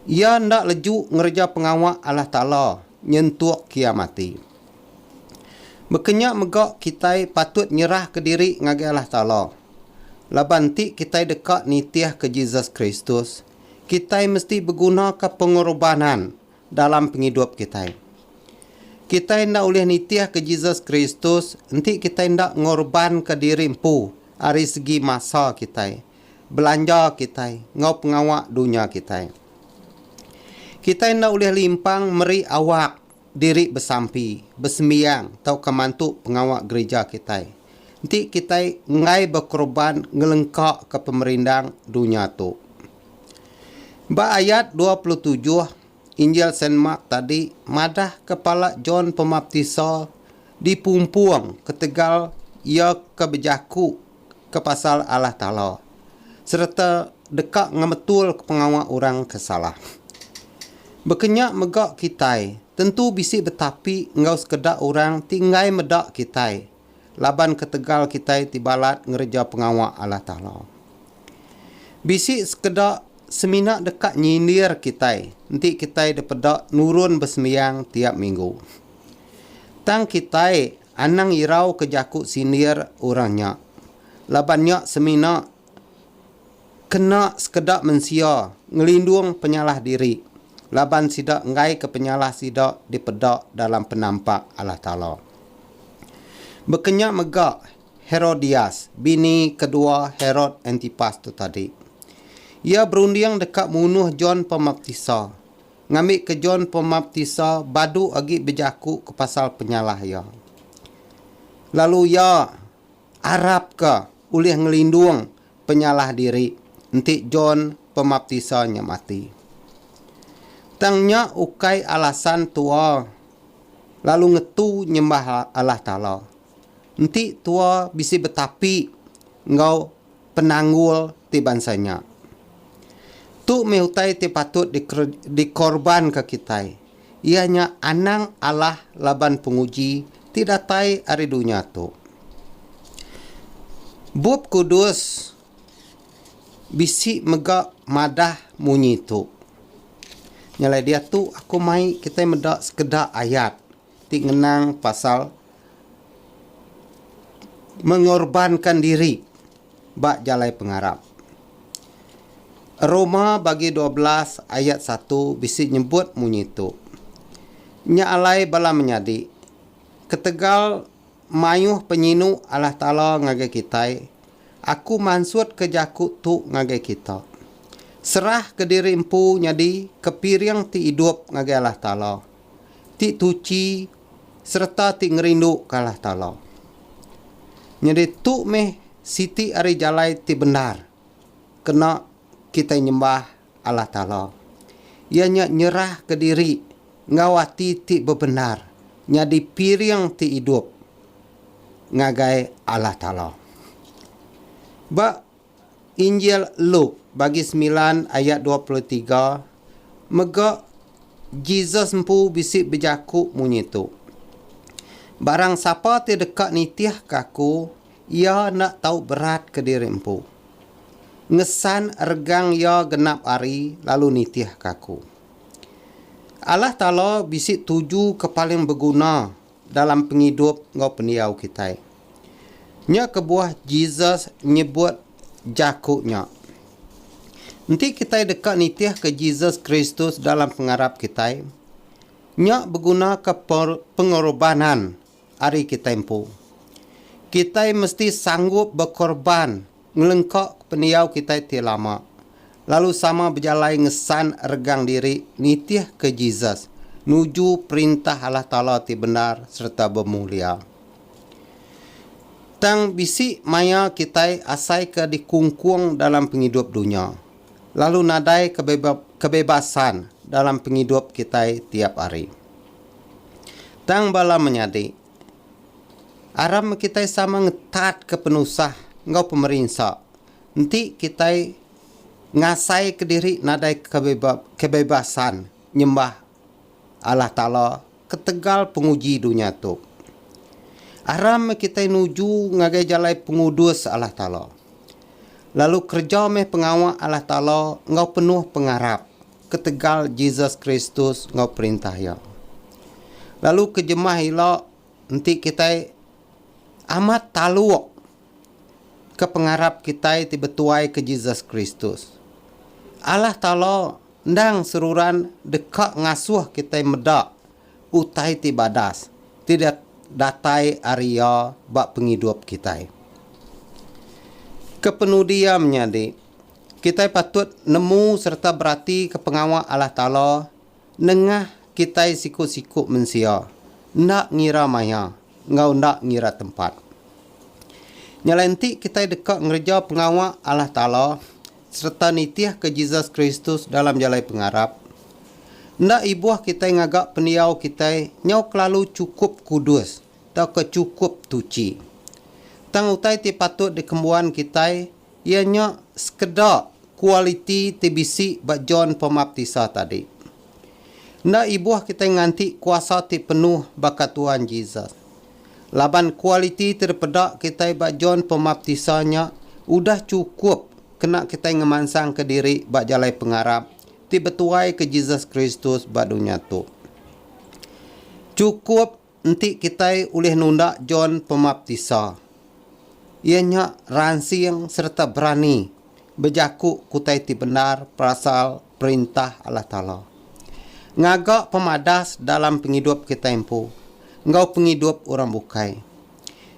Iya enda leju ngereja pengawa Allah Taala nyentuk kiam ati. Baka nya mega kitai patut nyerahka diri ngagai Allah Taala. Laban enti kitai deka nitihka Jesus Kristus, kitai mesti begunaka pengerubanan dalam pengidup kitai. Kitai enda ulih nitihka Jesus Kristus enti kitai enda ngorbanka diri empu ari segi masa kitai, belanja kitai, enggau pengawa dunya kitai. Kitai enda ulih limpang meri awak diri besampi, besembiang, tauka mantu pengawa gerija kitai enti kitai enggai bekorban ngelengkaka pemerindang dunya tu. Ba ayat dua puluh tujuh, Injil Saint Mark tadi madah kepala John Pemaptisa dipumpung ketegal iya ke bejaku ke pasal Allah Taala sereta deka ngemetulka pengawa orang ke salah. Bekenya mega kitai tentu bisi betapi enggau sekeda orang ti enggai meda kitai. laban ketegal kitai ti balat ngereja pengawa Allah Taala. Bisi sekeda semina deka nyindir kitai enti kitai dipeda nurun besembiang tiap minggu. Tang kitai anang irauka jaku sindir orang nya laban nya semina Kena sekeda mensia ngelindung penyalah diri laban sida enggaika penyalah sida dipeda dalam penampak Allah Taala. Bekenya mega Herodias, bini kedua Herod Antipas tu tadi. Iya berunding deka munuh John Pemaptisa, ngambika John Pemaptisa badu agi bejaku ke pasal penyalah iya. Lalu iya. Arap ke ulih ngelindung penyalah diri enti John Pemaptisa nya mati. Tang nya ukai alasan tua lalu ngetu nyembah Allah Taala. Enti tua bisi betapi enggau penanggul ti bansa nya. Tu meh utai ti patut dikorbanka kitai, iya nya anang alah laban penguji ti datai ari dunya tu. Bup Kudus bisi mega madah munyi tu. Nyalai diatu aku mai kitai meda sekeda ayat ti ngenang pasal mengorbankan diri ba jalai pengarap. Roma bagi dua belas ayat satu bisi nyebut munyi tu. Nya alai bala menyadi, ketegal mayuh penyinu Allah Taala ngagai kitai, aku mansutka jaku tu ngagai kita. Serahka diri empu nyadi kepiring ti idup ngagai Allah Taala. ti tuchi sereta ti ngerinduka Allah Taala. Nyadi tu meh siti ari jalai ti bendar kena kitai nyembah Allah Taala, iya nya nyerahka diri enggau ati ti bebendar nyadi piring ti idup ngagai Allah Taala. Ba. Injil Luke bagi semilan ayat dua puluh tiga mega Jesus empu bisi bejaku munyi tu, Barang sapa ti deka nitihka aku, iya enda tau beratka diri empu, ngesan regang iya genap ari lalu nitihka aku. Allah Taala bisi tuju ke paling beguna dalam pengidup enggau pendiau kitai. Nya kebuah Jesus nyebut jaku nya. Enti kitai deka nitihka Jesus Kristus dalam pengarap kitai, nya begunaka pengorubanan ari kitai empu. Kitai mesti sanggup bekorban Ngelengkaka pendiau kitai ti lama, lalu sama bejalai ngesan regang diri nitihka Jesus nuju Perintah Allah Taala ti bendar sereta bemulia. Tang bisi maya kitai asaika dikungkung dalam pengidup dunya, lalu nadai kebebasan dalam pengidup kitai tiap hari. Tang bala menyadi, Aram kitai sama ngetatka penusah enggau pemerinsa, enti kitai ngasaika diri nadai kebebasan nyembah Allah Taala ketegal penguji dunya tu. Aram meh kitai nuju ngagai jalai pengudus Allah Taala, lalu kereja meh pengawa Allah Taala enggau penuh pengarap. ketegal Jesus Kristus enggau Perintah Iya. Lalu ke jemah ila enti kitai amat taluk ke pengarap kitai ti betuai ke Jesus Kristus. Allah Taala endang seruran deka ngasuh kitai meda utai ti badas ti datai ari Iya ba pengidup kitai. Kepenudi iya menyadi, Kitai patut nemu sereta beratika pengawa Allah Taala nengah kitai siku-siku mensia, enda ngira maya enggau enda ngira tempat. Nyalai enti kitai deka ngereja pengawa Allah Taala sereta nitihka Jesus Kristus dalam jalai pengarap, enda ibuh kitai ngaga pendiau kitai nyau kelalu chukup kudus tauka chukup tuchi. Tang utai ti patut dikembuan kitai Iya nya sekeda kualiti ti bisi ba John Pemaptisa tadi. Enda ibuh kitai nganti kuasa ti penuh baka Tuhan Jesus. Laban kualiti ti dipeda kitai ba John Pemaptisa nya udah chukup kena kitai ngemansangka diri ba jalai pengarap ti betuaika Jesus Kristus ba dunya tu. Chukup Enti kitai ulih nunda John Pemaptisa, iya nya ransing sereta berani bejaku utai ti bendar perasal Perintah Allah Taala. Ngaga pemadas dalam pengidup kitai empu enggau pengidup orang bukai.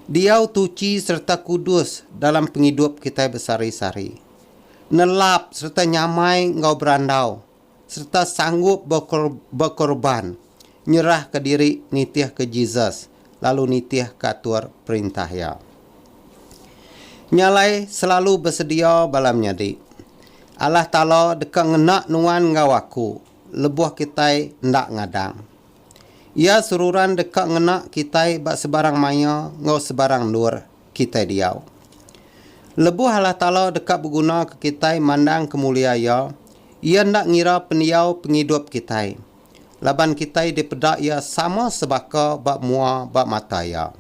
Diau tuchi sereta kudus dalam pengidup kitai besehari-sehari. Nelap sereta nyamai enggau berandau sereta sanggup bekorban nyerahka diri nitihka Jesus lalu nitihka atur perintah Iya. Nya alai selalu besedia bala menyadi. Allah Taala deka ngena nuan enggau aku lebuh kitai enda ngadang. Iya seruran deka ngena kitai ba sebarang maya enggau sebarang endur. kitai diau. Lebuh Allah Taala deka begunaka kitai mandang kemulia Iya, Iya enda ngira pendiau pengidup kitai, laban kitai dipeda Iya sama sebaka ba mua ba mata Iya.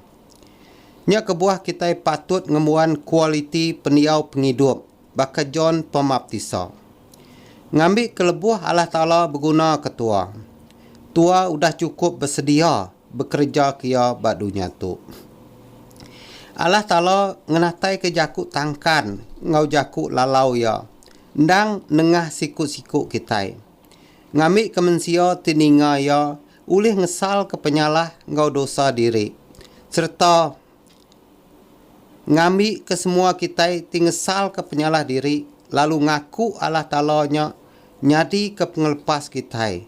Nya kebuah kitai patut ngembuan kualiti pendiau pengidup baka John Pemaptisa. Ngambika lebuh Allah Taala beguna ketua, tua udah chukup besedia bekereja ke iya ba dunya tu. Allah Taala ngenataika jaku tangkan enggau jaku lalau Iya endang nengah siku-siku kitai, ngambika mensia ti ninga Iya ulih ngesalka penyalah enggau dosa diri sereta ngambika semua kitai ti ngesalka penyalah diri lalu ngaku Allah Taala nya nyadika pengelepas kitai.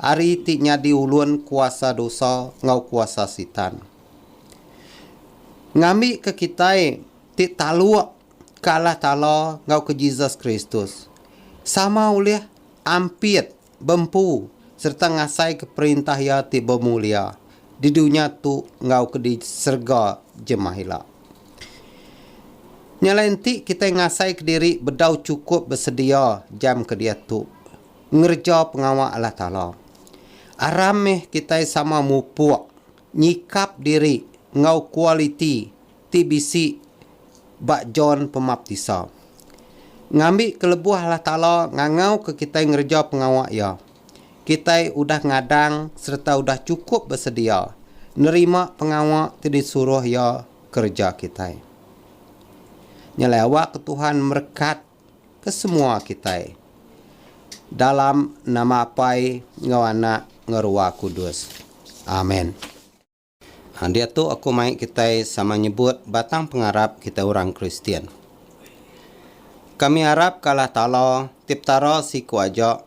Ari ti nyadi ulun kuasa dosa enggau kuasa Sitan. Ngambika kitai ti taluk ke Allah Taala enggau ke Jesus Kristus, sama ulih ampit, bempu sereta ngasaika Perintah Iya ti bemulia di dunya tu enggau ke di serega jemah ila. Nya alai enti kitai ngasaika diri bedau chukup besedia jam ke diatu, ngereja pengawa Allah Taala. Aram meh kitai sama mupuk nyikap diri enggau kualiti ti bisi ba John Pemaptisa. Ngambi kelebuh Allah Taala ngangauka kitai ngereja pengawa Iya, kitai udah ngadang sereta udah chukup besedia nerima pengawa ti disuruh Iya kereja kitai. Nyelai awakka Tuhan merekat kesemua kitai dalam nama Apai enggau Anak enggau Ruah Kudus. Amen. Ha diatu aku mai kitai sama nyebut batang pengarap kitai orang Kristian. Kami arap ke Allah Taala, ti Petara siku aja,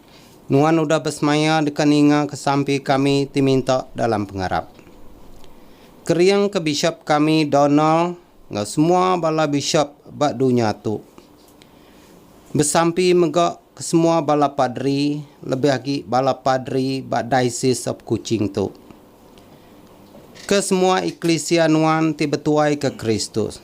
Nuan udah besemaya deka ninga kesampi kami ti minta dalam pengarap. Kering ke Bishop kami Donald enggau semua bala bishop ba dunya tu. Besampi mega ke semua bala padri lebih agi bala padri ba Diocese of Kuching tu. Ke semua eklisia nuan ti betuai ke Kristus.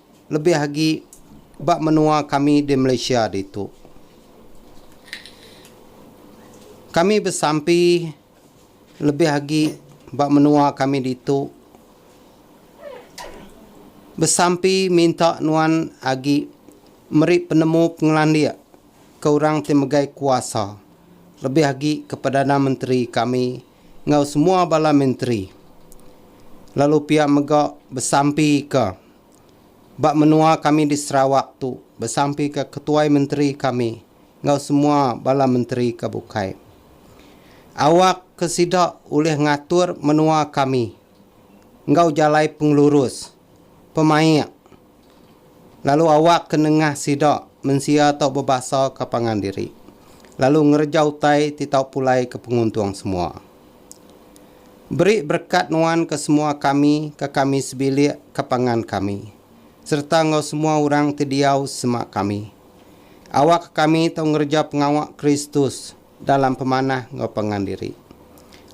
lebih agi ba menua kami di Malaysia ditu. Kami besampi lebih agi ba menua kami ditu besampi minta nuan agi meri penemu pengelandik ke orang ti megai kuasa lebih agi ke Perdana Menteri kami enggau semua bala menteri lalu pia mega besampika ba menua kami di Sarawak tu besampika ketuai menteri kami enggau semua bala menteri ke bukai awak ke sida ulih ngatur menua kami enggau jalai pengelurus, pemaik. Lalu awak ke nengah sida mensia tau bebasa ke pangan diri, lalu ngereja utai ti tau pulai ke penguntung semua. Beri berekat nuan ke semua kami ke kami sebilik ke pangan kami, sereta enggau semua orang ti diau sema kami. Awak ke kami tau ngereja pengawa Kristus. dalam pemanah enggau pangan diri,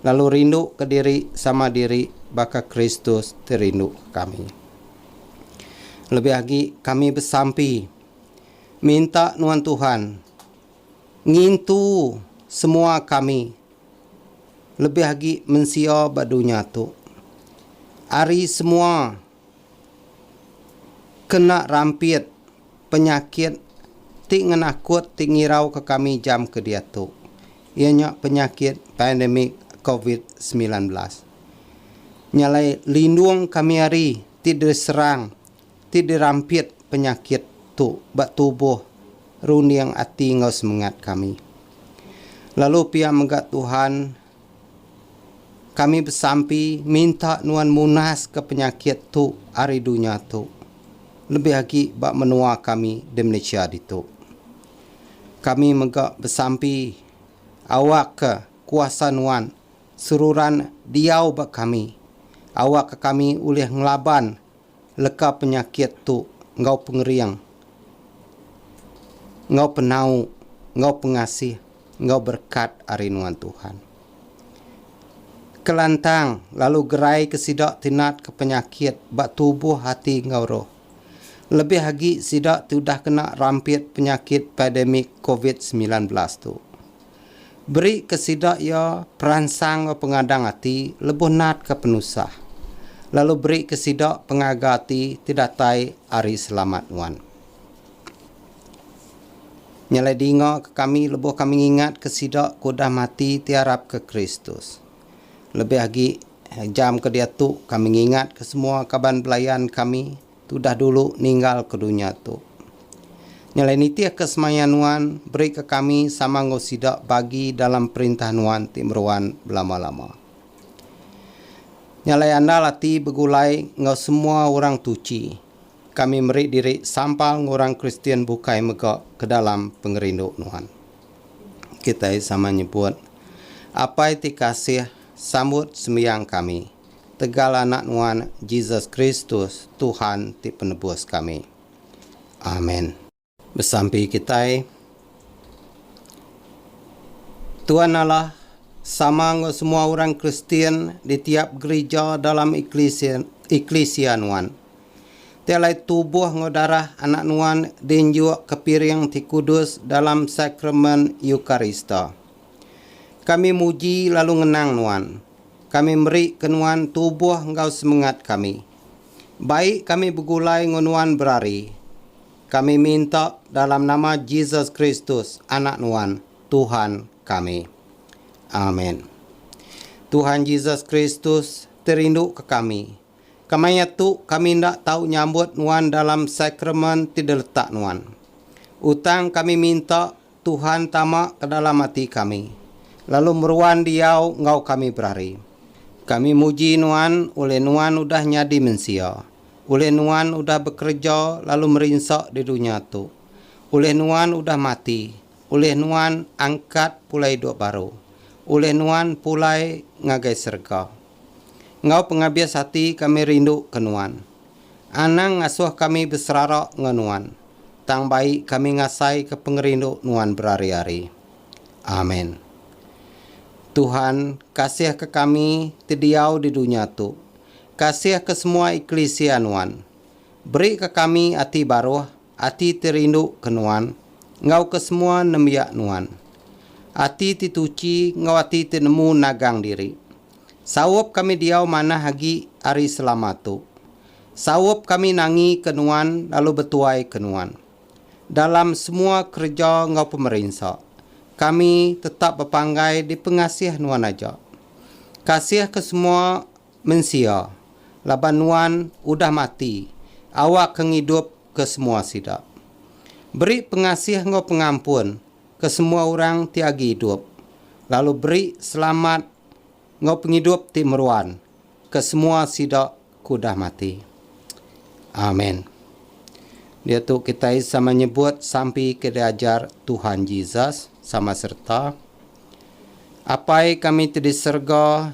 lalu rinduka diri sama diri baka Kristus ti rinduka kami. Lebih agi, kami besampi minta nuan Tuhan ngintu semua kami, lebih agi mensia ba dunya tu, ari semua kena rampit penyakit ti ngenakut ti ngirauka kami jam ke diatu iya nya penyakit pandemik covid semilan belas nya alai lindung kami ari ti diserang ti dirampit penyakit tu ba tubuh runding ati enggau semengat kami lalu pia mega Tuhan Kami besampi minta nuan munaska penyakit tu ari dunya tu, lebih agi ba menua kami di Malaysia ditu. Kami mega besampi awakka kuasa nuan seruran diau ba kami awakka kami ulih ngelaban leka penyakit tu enggau pengering enggau penau enggau pengasih enggau berekat ari nuan Tuhan. Kelantang lalu geraika sida ti natka penyakit ba tubuh ati enggau roh. Lebih agi sida ti udah kena rampit penyakit pandemik covid semilan belas tu. Berika sida iya peransang enggau pengadang ati lebuh natka penusah, lalu berika sida pengaga ati ti datai ari Selamat nuan. Nya alai dinga ke kami lebuh kami ngingatka sida ke udah mati ti arapka Kristus. Lebih agi, jam ke diatu kami ngingatka semua kaban belayan kami, Tu dah dulu ninggal ke dunya tu. Nyelai nitih ke semaya nuan beri ke kami sama enggau sida bagi dalam perintah nuan ti meruan belama-lama. Nyelai andal ati begulai enggau semua orang tuchi, kami meri diri sampal enggau orang Kristian bukai mega ke dalam pengerindu nuan. Kitai sama nyebut, Apai ti kasih, sambut sembiang kami. tegal Anak Nuan Jesus Kristus, Tuhan ti Penebus kami. Amen. Besampi kitai. Tuan Allah sama enggau semua orang Kristian di tiap gerija dalam eklisia eklisia Nuan. Ti alai tubuh enggau darah Anak Nuan diinjuk ke piring ti kudus dalam Sakramen Eukarista. Kami muji lalu ngenang Nuan. Kami meri ke nuan tubuh enggau semengat kami. Bai kami begulai enggau nuan berari. Kami minta dalam nama Jesus Kristus, Anak nuan, Tuhan kami. Amen. Tuhan Jesus Kristus ti rindu ke kami. Kemaya tu kami enda tau nyambut nuan dalam sakramen ti diletak nuan. Utang kami minta Tuhan tama ke dalam ati kami, lalu meruan diau enggau kami berari. Kami muji Nuan ulih Nuan udah nyadi mensia, ulih Nuan udah bekereja lalu merinsa di dunya tu, ulih Nuan udah mati, ulih Nuan angkat pulai idup baru, ulih Nuan pulai ngagai serega. enggau pengabis ati kami rindu ke Nuan. Anang ngasuh kami beserara enggau Nuan, tang bai kami ngasaika pengerindu Nuan berari-ari. Amen. Tuhan, kasihka kami ti diau di dunya tu. Kasihka semua eklisia Nuan. Berika kami ati baruh Ati ti rindu ke Nuan, enggau ke semua nembiak Nuan. Ati ti tuchi enggau ati ti nemu nagang diri. Saup kami diau manah agi ari selama tu. Saup kami nangi ke Nuan lalu betuai ke Nuan. Dalam semua kereja enggau pemerinsa, kami tetap bepanggai dipengasih Nuan aja. Kasih ke semua. Mensia, laban Nuan udah mati, awakka ngidup ke semua sida. Beri pengasih enggau pengampun ke semua orang ti agi idup, lalu beri selamat enggau pengidup ti meruan ke semua sida ke udah mati. Amen. Diatu kitai sama nyebut sampi ke diajar Tuhan Jesus sama sereta, Apai kami ti di serega,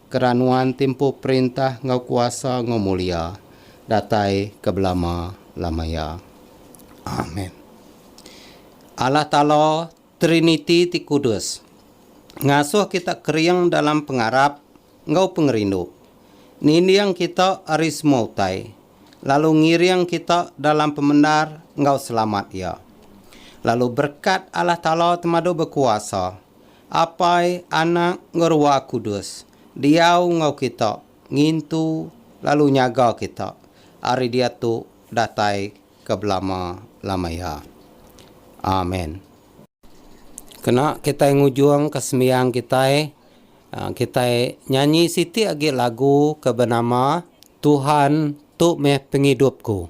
Kera nuan timpuh perintah enggau kuasa enggau mulia datai ke belama lamaya. Amen. Allah Taala Triniti ti kudus ngasuh kita kering dalam pengarap enggau pengerindu, ninding kita ari semua utai, lalu ngiring kita dalam pemendar enggau selamat Iya. Lalu berekat Allah Taala temadu bekuasa. Apai, Anak, enggau Ruah Kudus, diau enggau kita, ngintu lalu nyaga kita ari diatu datai ke belama-lama iya. Amen. Kena kitai ngujungka sembiang kitai, kitai nyanyi siti agi lagu ke benama Tuhan Tu Meh Pengidupku.